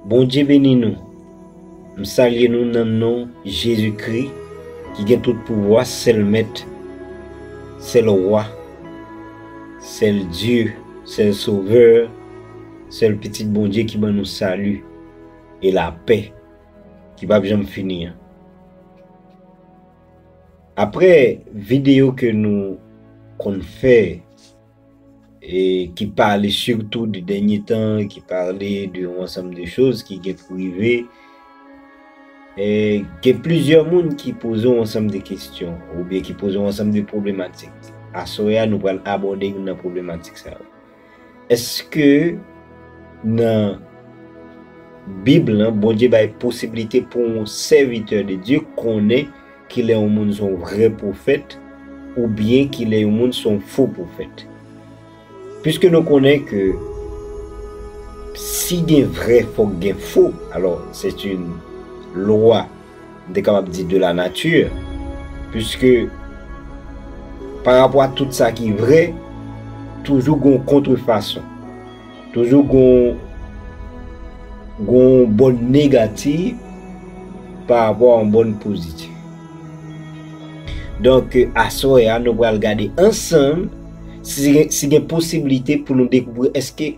Bondye beni nou, m salye nou nan non Jezi Kri ki gen tout pouvwa, sèl mèt, sèl wa, sèl Dye, sèl sovè, sèl pitit Bondye ki ban nou sali. e lapè ki pap janm fini an. Aprè videyo ke nou konn fè e ki pale sitou de dènye tan, ki pale de yon ansanm de choz ki gen pou rive, e gen plizyè moun ki poze yon ansanm de kestyon oubyen ki poze yon ansanm de pwoblematik. Aswè a nou pral abòde youn nan pwoblematik sa yo. Eske nan bib lan Bondye bay posibilite pou yon sèvitè de Dye konnen kilè yon moun son vrè pwofèt oubyen kilè yon moun son fo pwofèt? Piske nou konnen ke si gen vrè fòk gen fo, alò sèt yn lwa m te kapab di de la nature, puiske pa rapò a tout sa ki vre, toujou gon kontre fason, toujou gon gon bòn negativ pa rapò a yon bòn pozitiv. Donk aswè a nou pral gade ansanm si gen si gen posiblite pou nou dekouvri èske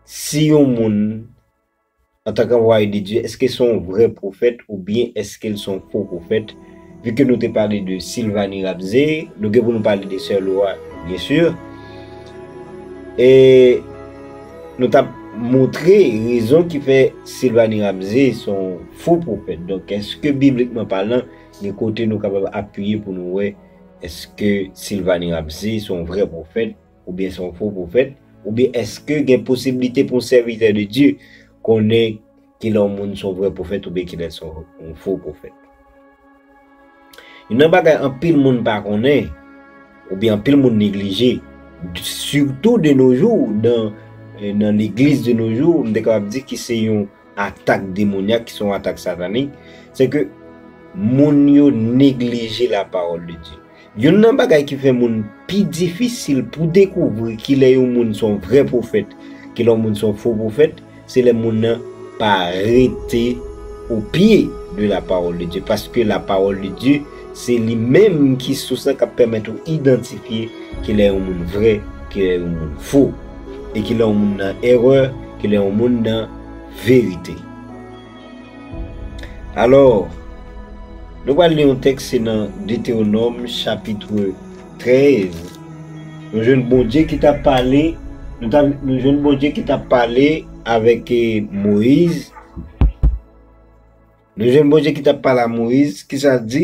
si yon moun Antanke anvwaye de Dye, èske se yon vrè pwofèt oubyen èske l se yon fo pwofèt? Vu ke nou te pale de Sylvanie Rabzé, nou gen pou nou pale de Sè Laura bien sûr. E nou tap montre rezon ki fè Sylvanie Rabzé se yon fo pwofèt. Donk èske biblikman palan gen kote nou kapab apiye pou nou wè èske Sylvanie Rabzé se yon vrè pwofèt Oubyen se yon fo pwofèt? Oubyen èske gen posiblite pou yon sèvitè de Dye konnen ki lè yon moun se yon vrè pwofèt oubyen ki lè l se yon fo pwofèt? Youn nan bagay anpil moun pa konnen, oubyen anpil moun neglije, sitou de no jou, nan legliz de no jou, m te kapab di ki se yon atak demonyak, ki se yon atak satanik, se ke moun yo neglije lapawòl de Dye. Youn nan bagay ki fè moun pi difisil pou dekouvri ki lè yon moun son vrè pwofèt, ki lè yon moun son fo pwofèt, se lè moun nan pa rete o pye de la pawòl de Dye. Paske la pawòl de Dye se li menm ki sous lan k'ap pèmèt ou idantifye ki lè yon moun vrè, ki lè yon moun fo. E ki lè yon moun nan erè, ki lè yon moun nan verite. Alò, nou pral li yon tèks se nan Detewonòm chapitre 13, nou jwenn Bondye ki t ap pale, nou jwenn Bondye ki t ap pale avèk Moyiz, nou jwenn Bondye ki t ap pale a Moyiz, ki sa l di?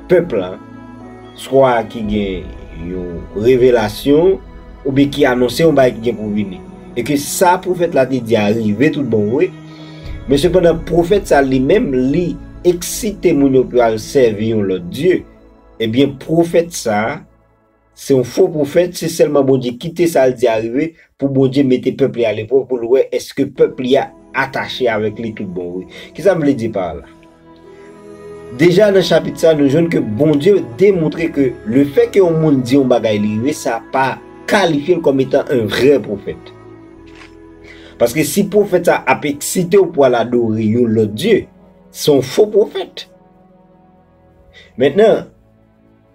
pèp la, swa ki gen yon revelasyon, oubyen ki anonse yon bagay ki gen pou vini. E ke sa pwofèt la te di a rive tout bon vre, men sepandan pwofèt sa li menm li eksite moun yo pou yo al sèvi yon lòt dye, ebyen pwofèt sa, Se yon fo pwofèt, se sèlman Bondye kite sa l di a rive pou Bondye mete pèp li a leprèv pou l wè èske pèp li a atache avèk li tout bon vre. Kisa m vle di pa la? Deja nan chapit sa nou jwenn ke Bondye demontre ke lefè ke yon moun di yon bagay li rive sa pa kalifye l kòm etan yon vrè pwofèt. Paske si pwofèt sa ap eksite w pou al adore yon lòt dye, se yon fo pwofèt. Mentnan,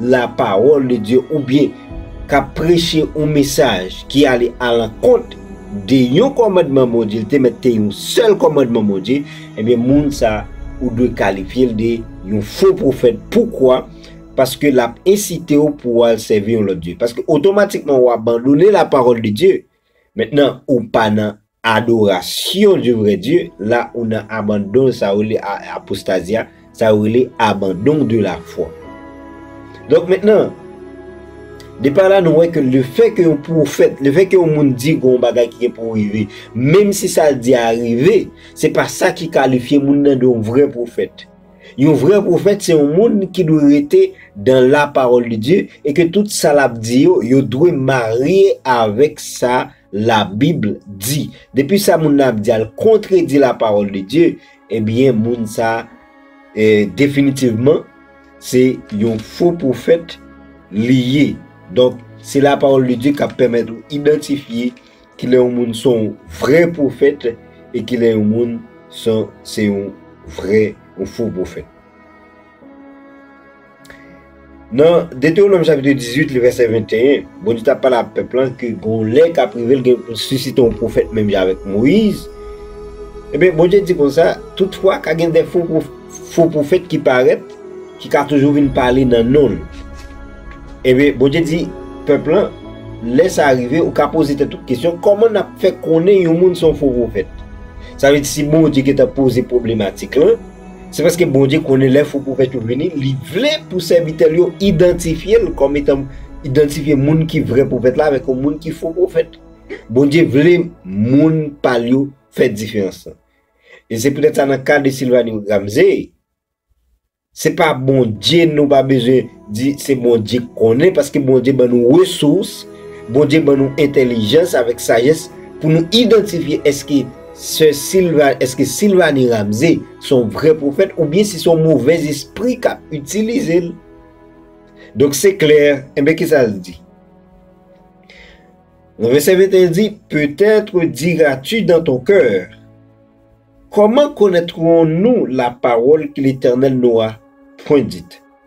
la pawòl de Dye oubyen k ap preche yon mesaj ki ale alankont de yon kòmandman Bondye, l te mèt te yon sèl kòmandman Bondye, ebyen moun sa a ou dwe kalifye l de yon fo pwofèt. Poukwa? Paske l ap ensite w pou w al sèvi yon lòt dye. Paske otomatikman ou abandone lapawòl de Dye. Mentnan ou pa nan Adoration du vrai Dieu la ou nan abandon sa yo rele apostasia sa yo rele abandon de la foi donk mentnan depa la nou wè ke le fè ke yon profèt le fè ke yon moun di gon bagay ki gen pou rive menm si sal di a rive se pa sa ki kalifye moun nan de yon vrè profèt yon vrè profèt se yon moun ki dwe rete dan la parole de Dieu e ke tout sa lap di yo yo dwe marye avèk sa La bible dit. Depi sa moun nan ap di al kontredi la parole de Dieu, ebyen moun sa definitivman se yon fo profèt li ye. Donk se la parole de Dieu kap pèmèt ou idantifye ki lè yon moun son vrè profèt e ki lè yon moun son se yon vrè yon fo profèt. Nan Detewonom chapitre 18 li vèsè 21, Bondye tap pale ak pèp lan ke gon lè kap rive l gen pou sisite yon pwofèt menm jan avèk Moyiz, ebyen Bondye di konsa, toutfwa ka gen de fo pwofèt ki parèt ki ka toujou vin pale nan non l. Ebyen Bondye di pèp lan, lè sa rive ou ka poze tèt ou kesyon kòman nap fè konnen yon moun se yon fo pwofèt? Sa vle di si Bondye gentan poze pwoblematik lan, Se paske Bondye konnen lè fo pwofèt yo vini, li vle pou sèvitè l yo idantifye l kòm etan, idantifye moun ki vrè pwofèt la avèk yon moun ki fo pwofèt. Bondye vle moun pa l yo fè diferans lan. E se poutèt sa nan ka de Sylvanie Ramsey, se pa Bondye nou pa bezwen. Di se Bondye k konnen paske Bondye ban nou resous, Bondye ban nou entèlijans avèk sajès pou nou idantifye èske sè Silva, èske Sylvanie Ramsey se yon vrè pwofèt oubyen si se yon movèz espri k ap itilize l. Donk se klè, enben kisa l di? Nan vèsè 21 l di, Peut-être diras-tu dans ton cœur, Comment connaîtrons-nous la parole que l'Éternel n'aura point dite?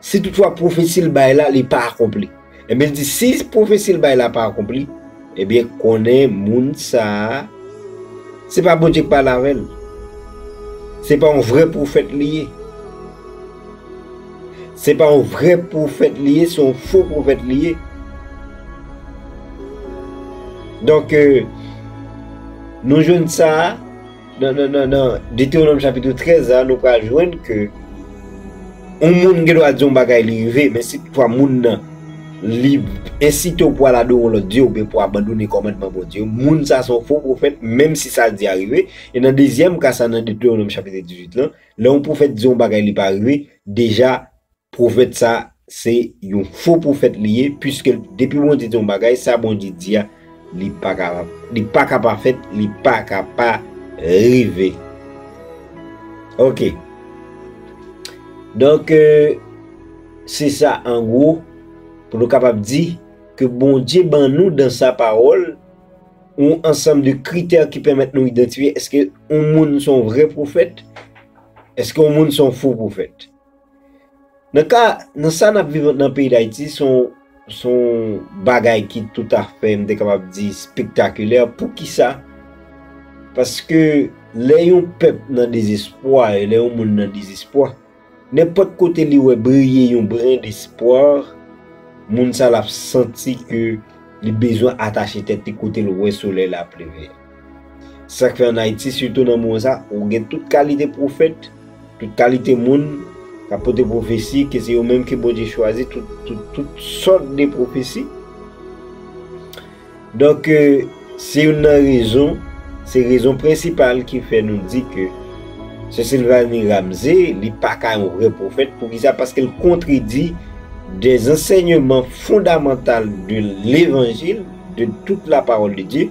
Si toutfwa pwofesi l bay la li pa akonpli. Enben l di, si pwofesi l bay la pa akonpli, enben konnen moun sa a, se pa Bondye ki pale avè l. Se pa yon vrè pwofèt li ye. Se pa yon vrè pwofèt li ye, se yon fo pwofèt li ye. Donk, nou jwenn sa a. Nan Detewonòm chapitre 13 la, nou pral jwenn ke yon moun gen dwa di yon bagay li rive, men si toutfwa moun nan li ensite w pou al adore yon lòt dye oubyen pou abandone kòmandman Bondye yo, moun sa a se yon fo pwofèt menm si sa l di a rive. E nan dezyèm ka sa a nan Detewonòm chapitre 18 lan, lè yon pwofèt di yon bagay li pa rive, deja, Pwofèt sa se yon fo pwofèt li ye piske depi Bondye di yon bagay sa Bondye di a li paka pa fèt li paka pa rive ok donk se sa an gwo pou nou kapab di ke Bondye ban nou dan sa pawòl yon ansanm de kritè ki pèmèt nou idantifye eske yon moun son vrè pwofèt eske yon moun son fo pwofèt. Nan ka, nan sa n ap viv nan peyi Dayiti, se yon, se yon bagay ki toutafè, m te kapab di, spektakilè. Poukisa? Paske lè yon pèp nan dezespwa, e lè yon moun nan dezespwa, nenpòt kote li wè briye yon bren despwa, moun sa l ap santi ke li bezwen atache tèt li kote l wè solèy la ap leve a. Sa k fè ann Ayiti, sitou nan moman sa, ou gen tout kalite pwofèt, tout kalite moun k ap pote pwofesi, ke se yo menm ke Bondye chwazi, tout sòt de pwofesi. Donk, se youn nan rezon, se rezon prensipal ki fè nou di ke Sè Silvani Ramze, li pa ka yon vrè pwofèt. Pou ki sa? Paske l kontredi de zansèyman fondamantal de levanjil, de tout la pawòl de Dye,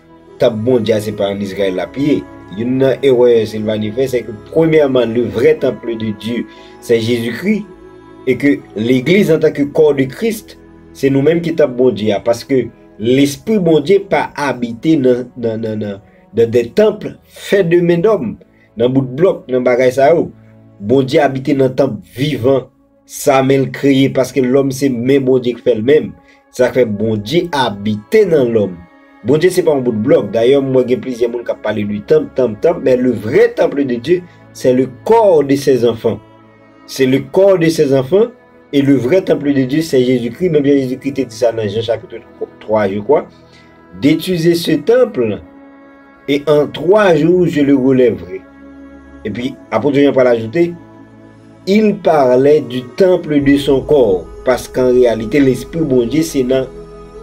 Tanp Bondye a se pa an Izrayèl l ap ye. Youn nan erè Silvanie fè sèke premyèman le vrè temple de Dieu sè Jezi Kri e ke legliz antanke kò de Krist se nou menm ki tanp Bondye a paske lespri Bondye pa abite nan de temple fè de men dòm, nan bout blòk, nan bagay sa yo. Bondye abite nan tanp vivan. Sa menl kreye paske lòm se men Bondye k fèl menm sak fè Bondye abite nan lòm Bondye se pa yon bout blòk dayè m wè gen plizyè moun kap pale de tanp tanp tanp men le vrè temple de Dieu sè le kò de sè zanfan se le kò de sè zanfan e le vrè temple de Dieu sè Jezi Kri menm jan Jezi Kri te di sa nan Jan chapitre 3 je kwa detize se temple. E an twa jou je le relèvrai. Epi Apot Jan pral ajoute, Il parlait du temple de son corps, paske an reyalite Lespri Bondye se nan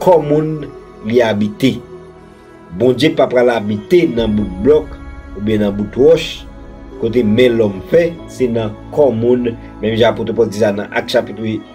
kò moun li abite. Bondye pa pral abite nan bout blòk oubyen nan bout wòch, kote men lòm fè, se nan kò moun, menm jan Apot Pòl di sa nan Ak chapit 8.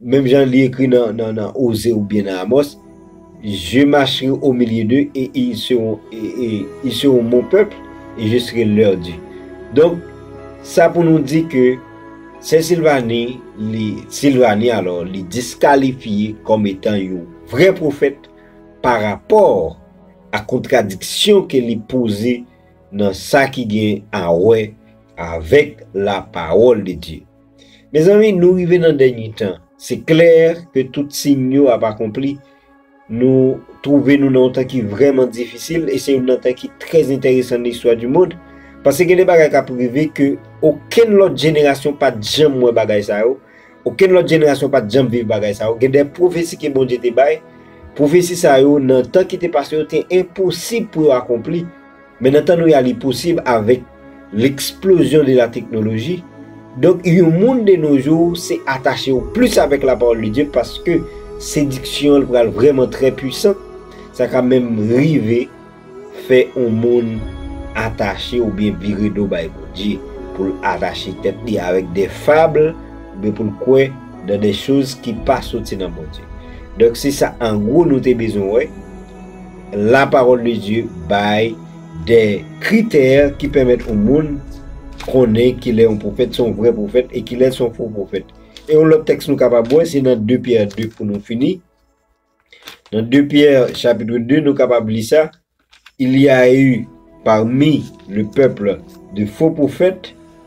Menm jan li ekri nan Oze oubyen nan Amòs, Je macherai au milieu d'eux et ils seront mon peuple et je serai leur Dieu. Donk, sa pou nou di ke Sè Silvani, Sylvanie alò, li diskalifye kòm etan yon vrè pwofèt pa rapò a kontradiksyon ke li poze nan sa ki gen a wè avèk la pawòl de Dye. Mezanmi nou rive nan dènye tan, se klè ke tout siy yo ap akonpli, nou twouve nou nan yon tan ki vrèman difisil e se youn nan tan ki trè entèresan nan istwa di mond, paske gen de bagay kap rive ke okenn lòt jenerasyon pat janm wè bagay sa yo, okenn lòt jenerasyon pat janm viv bagay sa yo, gen de pwofesi ke Bondye te bay, pwofesi sa yo nan tan ki te pase yo te enposib pou yo akonpli. Men nan tan nou ya li posib avèk l'explosion de la technologie, donk yon moun de nos jours se atache ou plis avèk la parole de Dieu paske sediksyon l pral vrèman trè puissant, sa ka menm rive fè yon moun atache oubyen vire do bay Bondye, pou l atache tèt li avèk des fables oubyen pou l kwè dans des choses ki pa soti nan Bondye. Donk se sa an gwo nou te bezwen wè. La parole de Dieu bay de kritè ki pèmèt yon moun konnen kilè yon pwofèt se yon vrè pwofèt e kilè l se yon fo pwofèt. E yon lòt tèks nou kapab wè se nan 2 Pyè 2 pou nou fini. Nan 2 Pyè chapitre 2 nou kapab li sa, Il y a eu parmi le peuple de faux prophètes,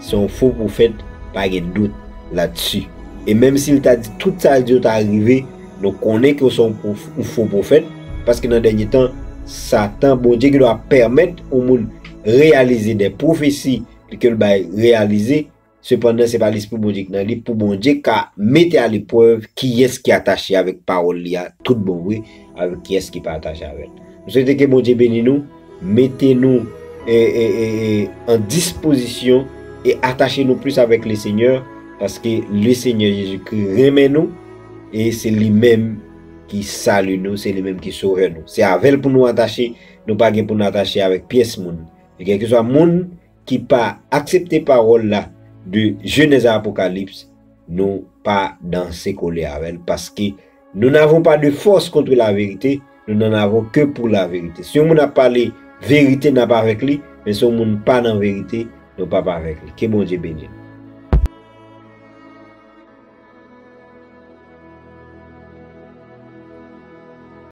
Se yon fo pwofèt, pa gen dout ladsu. E menm si l ta di tout sa l di yo ta rive, nou konnen ke w se yon fo pwofèt, paske nan dènye tan, Satan, Bondye gendwa pèmèt yon moun reyalize dè pwofesi ke l bay reyalize, sepandan se pa Lespri Bondye ki nan li, pou Bondye ka mete a leprèv kiyès ki atache avèk pawòl li a tout bon vre, avèk kiyès ki pa atache avè l. M swete ke Bondye beni nou. Mete nou an dispozisyon e atache nou plis avèk le Senyè, paske le Senyè Jezikri renmen nou e se li menm ki Sali nou, se li menm ki Sovè nou. Se avè l pou nou atache, nou pa gen pou nou atache avèk pyès moun. Kèlkeswa moun ki pa aksepte pawòl la de Genèse à Apocalypse nou pa danse kole avèl paske nou n'avons pas de force contre la vérité nou n'en avons que pour la vérité si yon moun ap pale vérité n'ap avèk li men si yon moun pa nan vérité nou pap avèk li ke Bondye beni nou.